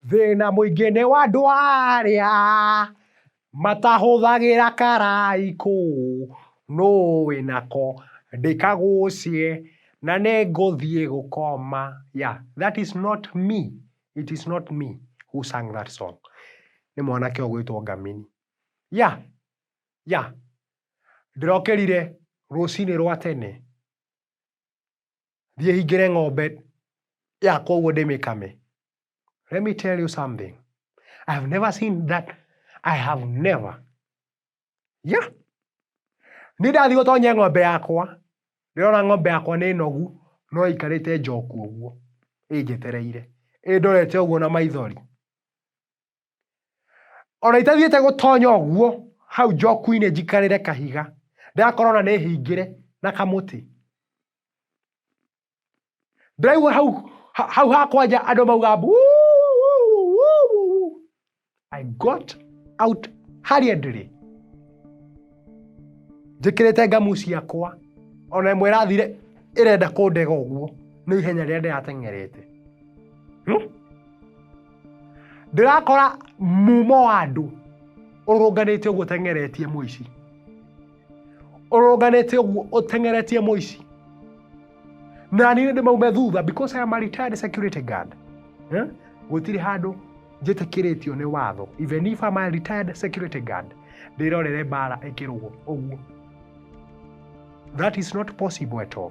Thĩna mũingĩ nĩ wa andũ arĩa matahũthagĩra karaikũ, nũ wĩnako ndĩkagucie na nĩngũthiĩ gũkoma, yeah that is not me, it is not me who sang that song nĩ mwanake ũgwĩtwo Ngamini. Yeah yeah ndĩrokĩrire rũcinĩ rwa tene. thiĩ hingĩre ng'ombe yakwa ũguo ndĩmĩkame let me tell you something i have never seen that i have never yeah nĩ ndathiĩ gũtonye ng'ombe yakwa ndĩrona ng'ombe yakwa nĩ nogu no ĩikarĩte njoku ũguo ĩnjetereire ĩndorete ũguo na maithori ona itathiĩte gũtonya ũguo hau njoku-inĩ njikarĩre kahiga ndĩrakorwo ona nĩ hingĩre na kamũtĩ ndĩraigua hau ha- hau hakwanja andũ mauga mbu i got out hurriedly njĩkĩrĩte ngamu ciakwa ona ĩmwe ĩrathire ĩrenda kũndega ũguo nĩ ihenya rĩrĩa ndĩrateng'erete hmm? ndĩrakora mumo wa andũ ũrũnganĩte ũguo ũteng'eretie mũici ũrũnganĩte ũguo ũteng'eretie mũici na niĩ nĩ maume thutha because I am a retired security guard eh? gũtirĩ handũ njĩtĩkĩrĩtio nĩ watho even if I'm a retired security guard ndĩrorere mbara ĩkĩrũgwo ũguo that is not possible at all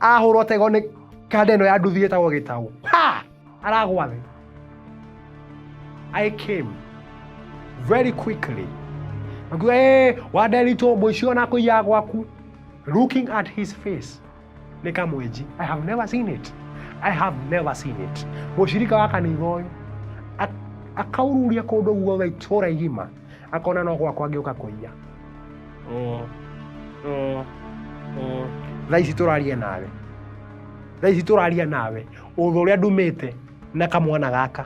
ahũrwo tego nĩ kanda ĩno ya nduthi ĩtagwo gĩtaũ ha aragwa thĩ i came very quickly Nakuga, hey, waderitwo mũici ona kũiya gwaku looking at his face nĩ kamwenji i have never seen it i have never seen it mũcirika wa kanitha ũyũ ak- akaururia kũndũ guothe itũra igima akona no gwakwa ngĩũka kũiya Mm, mm, mm. thaa ici tũraria nawe thaa ici tũraria nawe ũthũ ũrĩa ndumĩte na kamwana gaka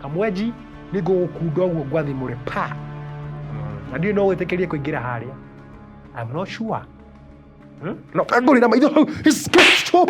kamwenji nĩ ngũgũkunda ũguo ngwathimũre pa na ndiũ no gwĩtĩkĩrie kũingĩra harĩa I'm not sure Hmm? no kangũrĩra maitho hau Stop!